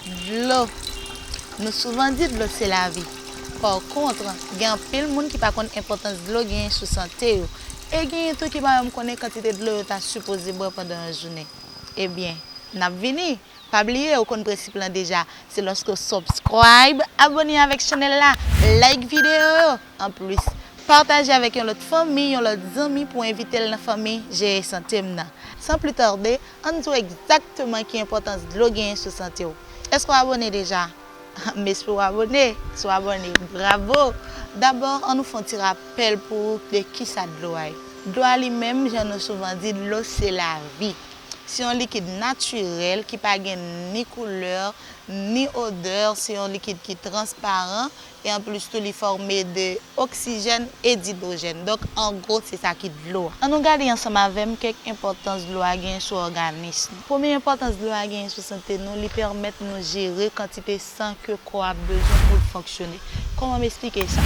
Dlo. Nou souvan di dlo se lavi. Pakontre, gen anpil moun ki pa konn enpòtans dlo genyen sou sante yo. E genyen tou ki pa menm konnen kantite dlo yo ta sipoze bwè pandan yon jounen. Ebyen, n ap vini! Pa bliye ou konn prensip lan deja, se lòske w subscribe, abone avèk chanèl la, like videyo yo, anplis, pataje avèk yon lòt fanmi, yon lòt zanmi pou envite l nan fanmi Jeye Sante m nan. San pli tarde, Ann di w egzakteman ki enpòtans dlo genyen sou sante w. Èske w abone deja? M espere w abone. Si w abone, bravo! Dabò, annou fè yon ti rapèl pou ou de kisa dlo a ye. Dlo a li menm, jan nou souvan di, dlo se lavi. Se yon likid natirèl ki pa gen ni koulè, ni odè, se yon likid ki transparan, e anplis tou li fòme de oksijèn e didwojèn donk an gwo se sa ki dlo a. An nou gade ansanm avè m kèk enpòtans dlo a genyen sou òganism. Premye enpòtans dlo a genyen sou sante nou li pèmèt nou jere kantite san ke kò a bezwen pou l fonksyone. Kòman m esplike sa?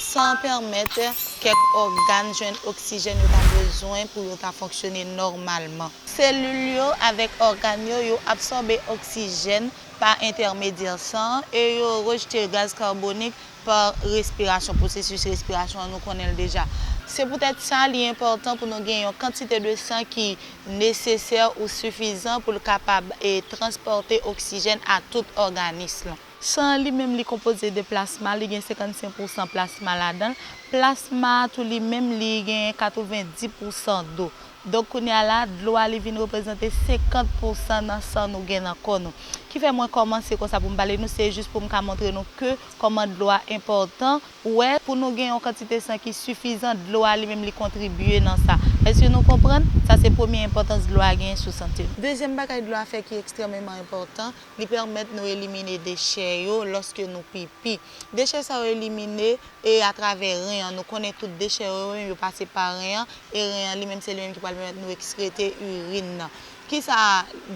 San an pèmèt kèk ògàn jwenn oksijèn yo ta bezwen pou yo ta fonksyone nòmalman. Selil yo avèk ògàn yo yo absòbe oksijèn. pa entèmedyè san e yo rejte gaz karbonik pa respirasyon, pwosesis respirasyon an nou konnen l deja. Se poutèt sa li enpòtan pou nou gen yon kantite de san ki nesesè ou sifizan pou l kapab transpòte oksijèn a tout òganis lan. San an li menm li konpoze de plasma, li gen 55 pou san plasma ladan l, plasma a tou li menm li genyen 90 pou san do. Donk kounye a la, dlo a li vin reprezante 50 pousan nan san nou gen nan kò nou. Ki fè mwen kòmanse konsa pou m pale nou, se jis pou m ka montre nou ke kòman dlo a enpòtan. Ou wè, pou nou gen yon kantite san ki sifizan, dlo a li menm li kontribye nan sa. Èske nou konprann? Sa se premye enpòtans dlo a genyen sou sante nou. Dezyèm bagay dlo a fè ki ekstrèmeman enpòtan, Li pèmèt nou elimine dechè yo lòske nou pipi. Dechè sa yo elimine e atravè ren an. Nou konnen tout dechè yo menm yo pase pa ren an e ren an li menm se li menm ki pral pèmèt nou ekskrete irin nan. Kisa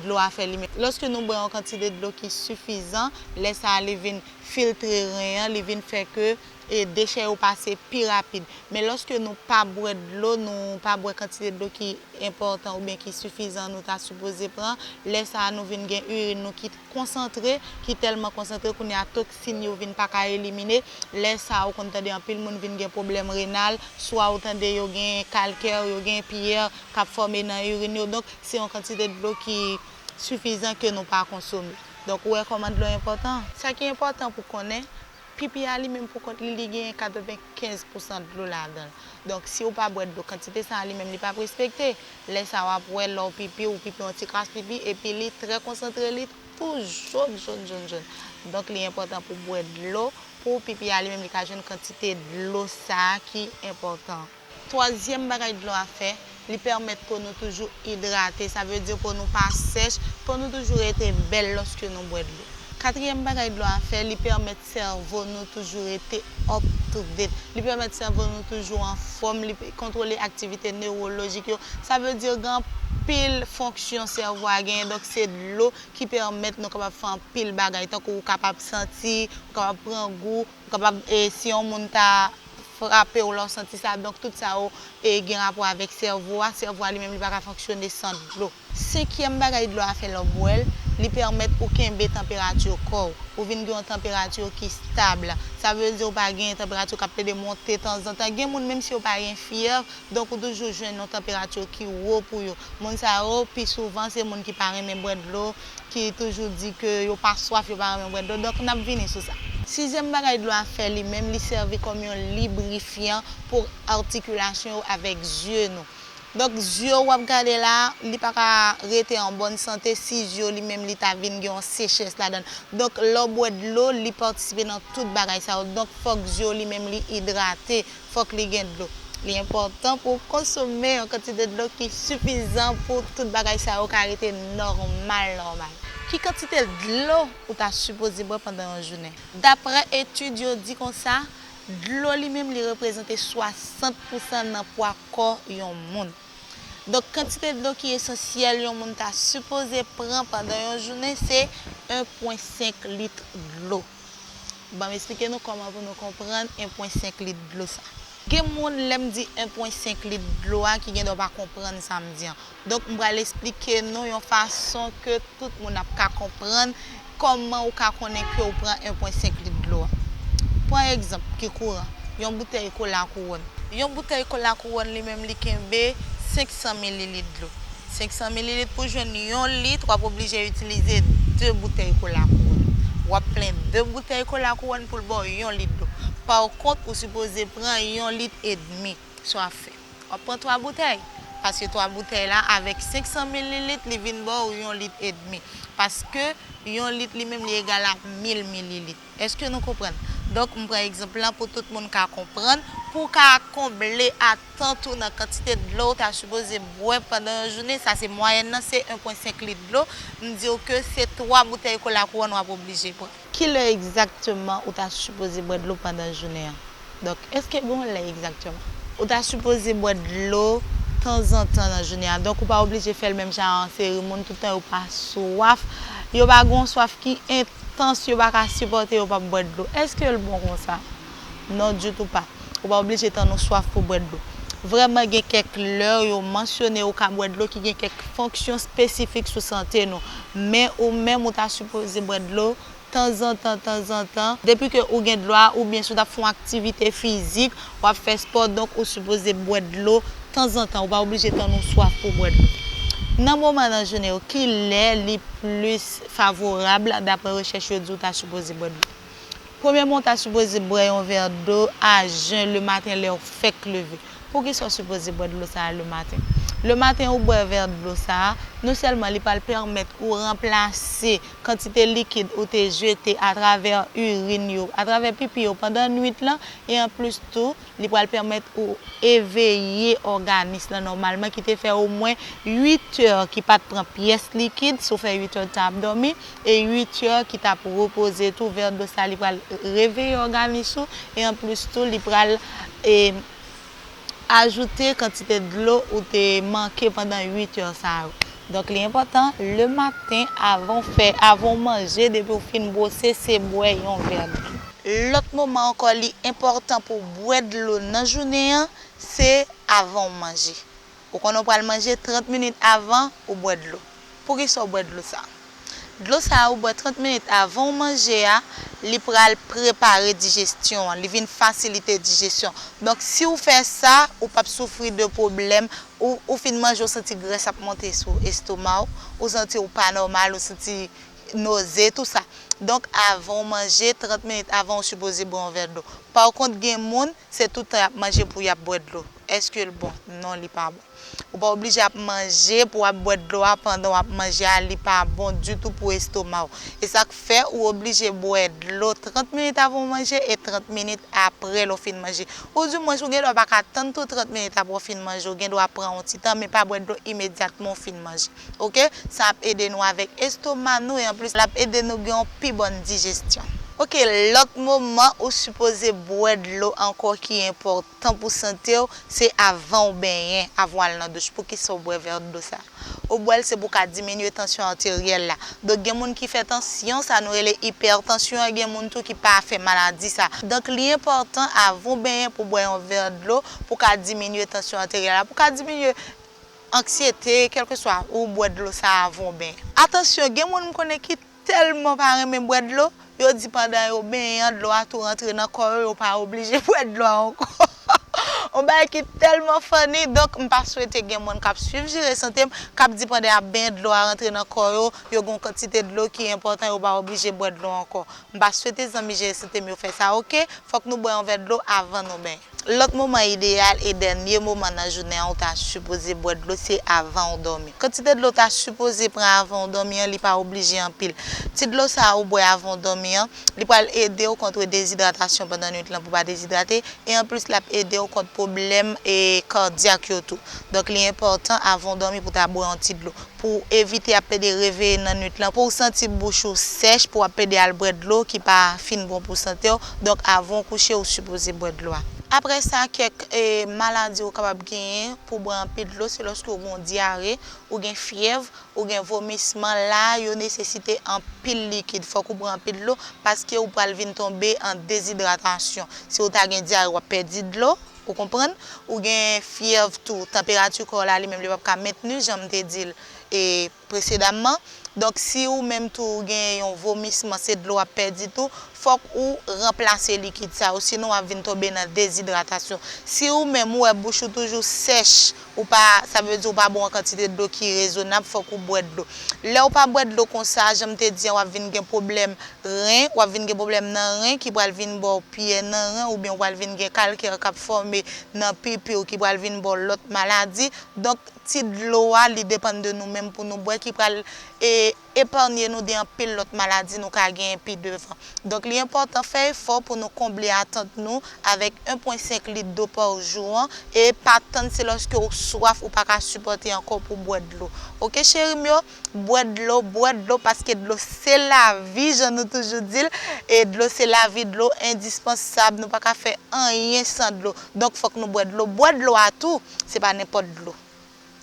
dlo a fè li menm? Lòske nou bwè yon kantite dlo ki sifizan, lè sa a li vin filtre ren an, li vin fè ke e dechè yo pase pi rapid. Men lòske nou pa bwè dlo, nou pa bwè kantite dlo ki enpòtan oubyen ki sifizan nou ta sipoze pran, lè sa a nou vin gen irin nou ki konsantre, ki tèlman konsantre kounye a toksin yo vin pa ka elimine, lè sa a ou konn tande anpil moun vin gen pwoblèm renal, swa ou tande yo gen kalkè, yo gen piyè k ap fòme nan irin yo, donk se yon kantite dlo ki sifizan ke nou pa konsome. Donk ou wè kòman dlo enpòtan? Sa ki enpòtan pou konnen. Pipi a li menm pou kont li, li genyen 95 pousan dlo ladan l. Donk, si ou pa bwè dlo kantite sa a li menm li pa p respekte. Lè sa a w ap wè lè w pipi, ou pipi yon ti kras pipi epi li trè konsantre li tou jòn jòn jòn jòn. Donk li enpòtan pou w bwè dlo pou pipi a li menm li ka jwenn kantite dlo sa a ki enpòtan. Twazyèm bagay dlo a fè, li pèmèt po nou toujou idrate, sa vle di po nou pa sèch, po nou toujou rete bèl lòske nou bwè dlo. Katriyèm bagay dlo a fè, li pèmèt sèvo nou toujou rete up to date, li pèmèt sèvo nou toujou anfòm, li kontwole aktivite newolojik yo, sa vle di gen anpil fonksyon sèvo a genyen, donk se dlo ki pèmèt nou kapab fè anpil bagay, tankou ou kapab santi, ou kapab pran gou, Ou kapab si yon moun ta frape w la ou santi sa donk tout sa yo gen rapò avèk sèvo a, sèvo a li menm li pa ka fonksyone san dlo. Senkyèm bagay dlo a fè lè w bwè l, li pèmèt ou kenbe tanperati kò w, ou vin gen yon tanperati ki stab, sa vle di ou pa gen tanperati k ap plede monte tanzantan, gen moun menm si yo pa gen fyèv donk ou toujou jwenn yon tanperati ki wo pou yo, moun sa yo pi souvan se moun ki pa renmen bwè dlo. ki toujou di ke yo pa swaf, yo pa renmen bwè dlo, donk n ap vini sou sa. Sizyèm bagay dlo a fè li menm, li sèvi kòm yon librifyan pou atikilasyon yo avèk zye nou. Donk zye ou w ap gade la a, li pa ka rete an bòn sante si zye w li menm li ta vin gen yon sechès ladan l. Donk lè w bwè dlo, li patisipe nan tout bagay sa yo. Donk fòk zye w li menm li idrate Fòk li gen dlo. Li enpòtan pou w konsome yon kantite dlo ki sifizan pou tout bagay sa yo ka rete nòmal nòmal. Ki kantite dlo ou ta sipoze bwè pandan yon jounen? Daprè etid yo di konsa, dlo li menm li reprezante 60 pousan nan pwa kò yon moun. Donk kantite dlo ki esansyèl yon moun ta sipoze pran pandan yon jounen se 1 pwen 5 lit dlo. Banm esplike nou kòman pou nou konprann 1 pwen 5 lit dlo sa. Gen moun lèm di 1 pwen 5 lit dlo a ki gen dwa pa konprann sam di an. Donk m pral esplike nou yon fason ke tout moun ap ka konprann kòman ou ka konnen ke ou pran 1 pwen 5 lit dlo a. Pran egzanp ki kouran, yon boutèy kola kouwòn. Yon boutèy kola kouwòn li menm li kenbe 500 mililit dlo. 500 mililit Pou jwenn yon lit, w ap oblije itilize 2 boutèy kola kouwòn. W ap plen 2 boutèy kola kouwòn pou l ba w yon lit dlo. Pakont, ou sipoze pran yon lit edmi. Sa w ap fè? W ap pran 3 boutèy. Paske 3 boutèy la, avèk 500 mililit, li vin ba w yon lit edmi. Paske, yon lit li menm li egal a 1000 mililit. Eske nou konprann? Donk, m pran egzanp lan pou tout moun ka konprann, pou w ka konble atant ou nan kantite dlo w ta sipoze bwè pandan yon jounen, sa se mwayèn nan, se 1 pwen 5 lit dlo, m di w ke se 3 boutèy kola kouwòn w ap oblije pran. Ki lè egzakteman ou ta sipoze bwè dlo pandan jounen an? Dòk, èske gon lè egzaktèman? Ou ta sipoze bwè dlo tanzantan nan jounen an, dòk ou pa oblije fè l menm jan a yon seri moun tout tan yo pa swaf, yo pa gen yon swaf ki entans yo pa ka sipòte yo pap bwè dlo. Èske l bon konsa? Non ditou pa. Ou pa oblije tann ou swaf pou bwè dlo. Vrèman gen kèk lè yo mansyone ou ka bwè dlo ki gen kèk fonksyon espesifik sou sante nou, men ou menm ou ta sipoze bwè dlo Tanzantan tanzantan, depi ke ou gen dlo a oubyen si w t ap fè yon aktivite fizik, w ap fè spò donk ou sipoze bwè dlo tanzantan, ou pa oblije tann ou swaf pou w bwè dlo. Nan moman nan jounen yo, ki lè li plis favorab daprè rechèch yo di w ta sipoze bwè dlo? Premyèman ou ta sipoze bwè yon vè dlo a jen le maten lè w fèk leve. Poukisa w sipoze bwè dlo sa a le maten? Le maten ou bwè vè dlo sa a, non sèlman li pral pèmèt ou ranplase kantite likid ou te jete atravè urin yo, atravè pipi yo pandan nwit lan e anplis tou li pral pèmèt ou eveye òganis lan nòmalman ki te fè omwen 8 è ki pat pran pyès likid si w fè 8 è tan ap dòmi e 8 è ki t ap repoze tou vèdòs la li pral reveye òganis ou e anplis tou li pral ajoute kantite dlo ou te manke pandan 8 heures sa yo. Donk li enpòtan le maten avan w fè, avan w manje depi w fin bwose se bwè yon vè dlo. Lòt moman ankò li enpòtan pou w bwè dlo nan jounen an se avan w manje. Ou konnen w pral manje 30 minit avan ou bwè dlo. Poukisa w bwè dlo sa a? Dlo sa a ou bwè 30 minit avan ou manje a, li pral prepare dijestyon an, li vin fasilite dijesyon. Donk si ou fè sa, ou pap soufri de pwoblèm, ou fin manje ou santi grès ap monte sou estoma w, ou santi w pa nòmal, ou santi noze, tout sa. Donk avan ou manje, 30 minit avan ou sipoze bwè yon vè dlo. Pakont gen moun Se tout tan yap manje pou yap bwè dlo. Eske l bon? Non li pa bon. Ou pa oblije ap manje pou ap bwè dlo a pandan wap manje a li pa bon ditou pou estoma w. E sak fè ou oblije bwè dlo 30 minit avan ou manje e 30 minit aprè lè w fin manje. Ou di mwen ou gen dwa paka tann tou 30 minit aprè w fin manje ou gen dwa pran yon ti tan men pa bwè dlo imedyatman ou fin manje. ok sa ap ede nou avèk estoma nou e anplis lap ede nou gen yon pi bòn dijestyon. Ok lòt moman ou sipoze bwè dlo ankò ki enpòtan pou santew se avan ou benyen avan w al nan douch poukisa ou bwè vè dlo sa ou bwèl se pou ka diminye tansyon arteryèl la donk gen moun ki fè tansyon sa nou rele ipètansyon an gen moun tou ki pa fè maladi sa donk li enpòtan avan ou benyen pou bwè yon vè dlo pou ka diminye tansyon arteryèl la pou ka diminye Anksyete, kèlkeswa, ou bwè dlo sa avan w benyen. Atansyon, gen moun m konnen ki tèlman pa renmen bwè dlo, yo di pandan yo benyen an dlo a tou rantre nan kò yo, yo pa oblije bwè dlo a ankò. On bagay ki tèlman funny, donk m pa swete gen moun k ap swiv jere sante m, k ap di pandan y ap benyen dlo a rantre nan kò yo, yo gen yon kantite dlo ki enpòtan yo pa oblije bwè dlo ankò. M pa swete zanmi jere sante m yo fè sa ok, fòk nou bwè yon vè dlo avan nou benyen. Lòt moman ideyal e dènye moman nan jounen an ou ta sipoze bwè dlo se avan ou dòmi. Kantite dlo ou ta sipoze pran avan ou dòmi an li pa oblije anpil. Ti dlo sa a ou bwè avan ou dòmi an, li pral ede ou kontre dezidratasyon pandan nwit lan pou w pa dezidrate, e anplis l ap ede ou kont pwoblèm kadyak yo tou. Donk li enpòtan avan ou dòmi pou w ta bwè yon ti dlo. Pou w evite ap plede reveye nan nwit lan, pou w santi bouch ou sèch, pou w ap plede al bwè dlo ki pa fin bon pou sante w, donk avan w kouche ou sipoze bwè dlo a. Aprè sa kèk maladi ou kapab genyen pou w bwè anpil dlo se lòske ou gen yon dyare, ou gen fyèv, ou gen vomisman, la a yo nesesite anpil likid, fòk ou bwè anpil dlo paske ou pral vin tonbe an dezidratasyon, si ou ta gen dyare w ap pèdi dlo, Ou konprann? Ou gen fyèv tou. Tanperati kò w la li menm li p ap ka mentni jan m te di l presedamman. Donk si ou menm tou ou gen yon vomisman, se dlo w ap pèdi tou, fòk ou ranplase likid sa yo sinon w ap vin tonbe nan dezidratasyon. Si ou menm ou wè bouch ou toujou sèch, ou pa, sa vle di ou pa bwè yon kantite dlo ki rezonab, fòk ou bwè dlo. Lè ou pa bwè dlo konsa, jan m te di an w ap vin gen pwoblèm ren, w ap vin gen pwoblèm nan ren ki pral vin ba w pyè nan ren oubyen ou pral vin gen kalkè k ap fòme nan pipi w ki pral vin ba w lòt maladi. Donk ti dlo a li depann de nou menm pou nou bwè ki pral epanye nou de anpil lòt maladi nou ka genyen pi devan. Donk li enpòtan fè efò pou nou konble atant nou avèk 1.5 lit dlo pa jou an e pa tann se lòske ou swaf ou pa ka sipòte ankò pou w bwè dlo ok cheri m yo bwè dlo bwè dlo paske dlo se lavi jan nou toujou di l e dlo se lavi dlo endispansab nou pa ka fè anyen san dlo donk fòk nou bwè dlo bwè dlo a tou se pa nenpòt dlo.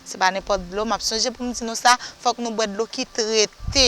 Se pa nenpòt dlo map sonje pou m di nou sa, fòk nou bwè dlo ki trete,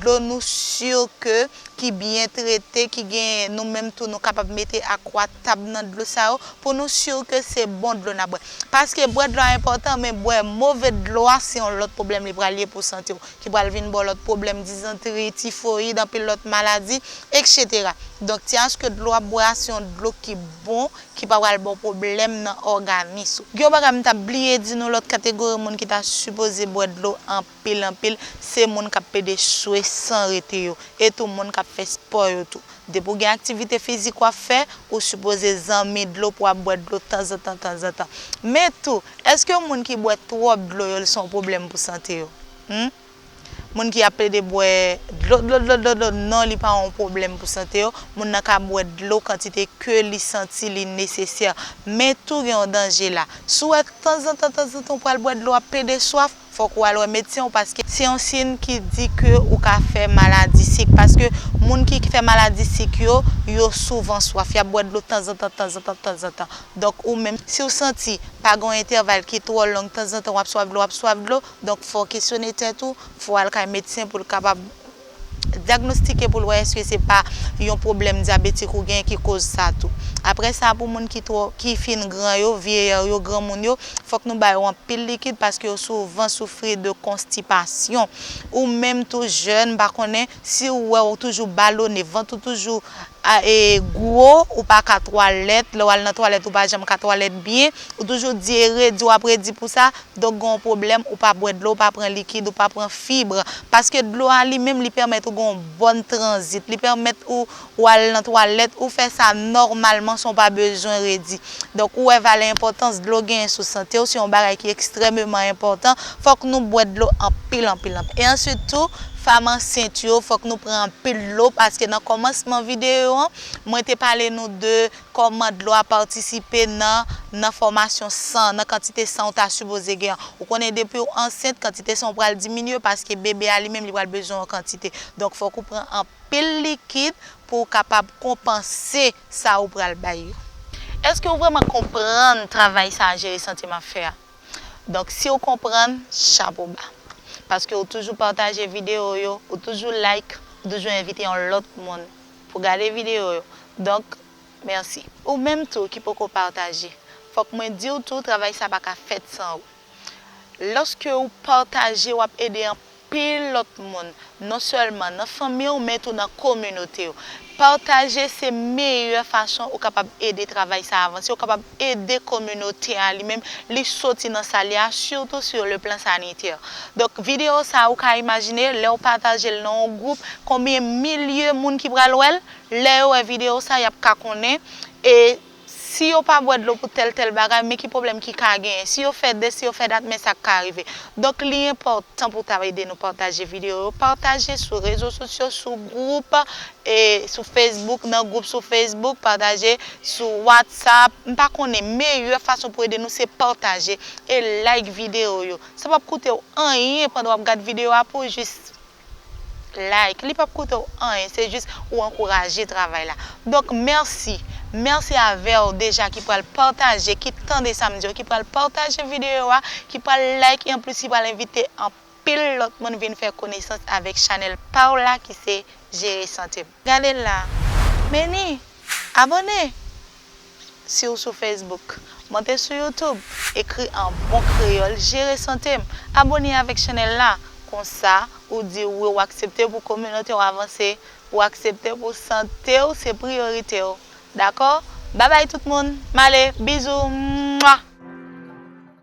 dlo nou si ke ki byen trete, ki gen nou menm tou nou kapab mete akwa tab nan dlo sa yo pou nou si ke se bon dlo nap bwè. Paske bwè dlo a enpòtan men bwè move dlo a se yon lòt pwoblèm li pral ye pou sante w ki pral vin ba w lòt pwoblèm dizantri, tifoyid, anpil lòt maladi, eksetera. Donk ti aske dlo wap bwè a se yon dlo ki bon, ki pa pral ba w pwoblèm nan òganis ou. Gen yon bagay m ta bliye di nou, lòt kategori moun ki ta sipoze bwè dlo anpil anpil, se moun k ap plede swe san rete yo, e tou moun k ap fè spò yo tou. Depi w gen aktivite fizik w ap fè, ou sipoze zanmi dlo pou w ap bwè dlo tanzantan tanzantan. Men tou, èske moun ki bwè twòp dlo yo l se yon pwoblèm pou sante yo? Hum? Moun ki ap plede bwè dlo dlo dlo dlo dlo non li pa yon pwoblèm pou sante yo, moun nan ka bwè dlo kantite ke li santi li nesesè. Men tou gen yon danje la. Si w wè tanzantan tanzantan ou pral bwè dlo ap plede swaf, fòk ou al wè medsen w paske se yon siyn ki di ke ou ka fè maladi sik paske moun ki fè maladi sik yo, yo souvan swaf, y ap bwè dlo tanzantan tanzantan tanzantan. Donk ou menm si w santi pa gen yon entèval ki twò long tanzantan w ap swaf dlo w ap swaf dlo, Donk fò w kesyone tèt ou, fò w al kay medsen pou l kapab dyagnostike pou l wè èske se pa yon pwoblèm dyabetik ou gen ki koz sa tou. Aprè sa pou moun ki twò ki fin gran yo, vieillard yo, granmoun yo, fòk nou ba yo anpil likid paske yo souvan soufri de konstipasyon. Ou menm tou jèn m pa konnen si ou wè ou toujou balone, vant ou toujou. A e gwo ou pa ka twalèt, lè w al nan twalèt ou pa janm ka twalèt byen, ou toujou di e redi w ap redi pou sa, donk gen yon pwoblèm ou pa bwè dlo, ou pa pran likid, ou pa pran fibre. Paske dlo a li menm li pèmèt ou gen yon bòn tranzit, li pèmèt ou ou al nan twalèt, ou fè sa nòmalman san w pa bezwen redi. Donk ou wè valè enpòtans dlo genyen sou sante w, se yon bagay ki ekstrèmeman enpòtan, fòk nou bwè dlo anpil anpil anpil. E answit tou, fam ansent yo fòk nou pran anpil dlo paske nan kòmansman videyo an, mwen te pale nou de kòman dlo a patisipe nan nan fòmasyon san, nan kantite san ou ta sipoze gen an. Ou konnen depi w ansent, kantite san ou pral diminye paske bebe a li menm li pral bezwen yon kantite. Donk fòk ou pran anpil likid pou w kapab konpanse. sa ou pral bay yo. Eske ou vreman konprann travay sa jere santye m ap fè a? Donk si ou konprann, chapo ba. Paske ou toujou pataje videyo yo, ou toujou like, ou toujou envite yon lòt moun pou gade videyo yo. Donk, mèsi. Ou menm tou ki poko pataje, fòk mwen di w tou travay sa pa ka fèt san ou. Lòske ou pataje wap ede anpil lòt moun non sèlman nan fanmi w men tou nan kominote w. Pataje se meyè fason ou kapab ede travay sa avanse, ou kapab ede kominote a li menm li soti nan sal ye a sitou sur le plan sanitaire. Donk video sa ou ka imajine lèw pataje l nan yon gwoup konbyen milye moun ki pral wèl, lè yo wè video sa yap ka konnen e Si yo pa bwè dlo pou tèl tèl bagay, men ki pwoblèm ki ka genyen. Si yo fè de, si yo fè dat, men sa k ka rive. Donk li enpòtan pou w ta ede nou pataje videyo yo. Pataje sou rezo sosyo, sou gwoup, e sou Facebook, nan gwoup sou Facebook, pataje sou WhatsApp, m pa konnen. Meyè fason pou ede nou se pataje e like videyo yo. Sa p ap koute w anyen pandan w ap gad videyo a pou w jis Like li pap koute w anyen se jis ou ankouraje travay la donk mèsi mèsi avèw deja ki pral pataje ki tande sam diw ki pral pataje videyo a ki pral like e anplis ki pral envite anpil lòt moun vin fè konesans avèk chanèl paw la ki se jere santem gade la meni abone. Si w sou Facebook, monte sou YouTube, ekri an bon kreyòl Jere sante m, abone avèk chanèl la, konsa ou di wi w aksepte pou kominote w avanse, ou aksepte pou sante w se priyorite w. Dakò? Babay tout moun, m ale, bizou, mwah!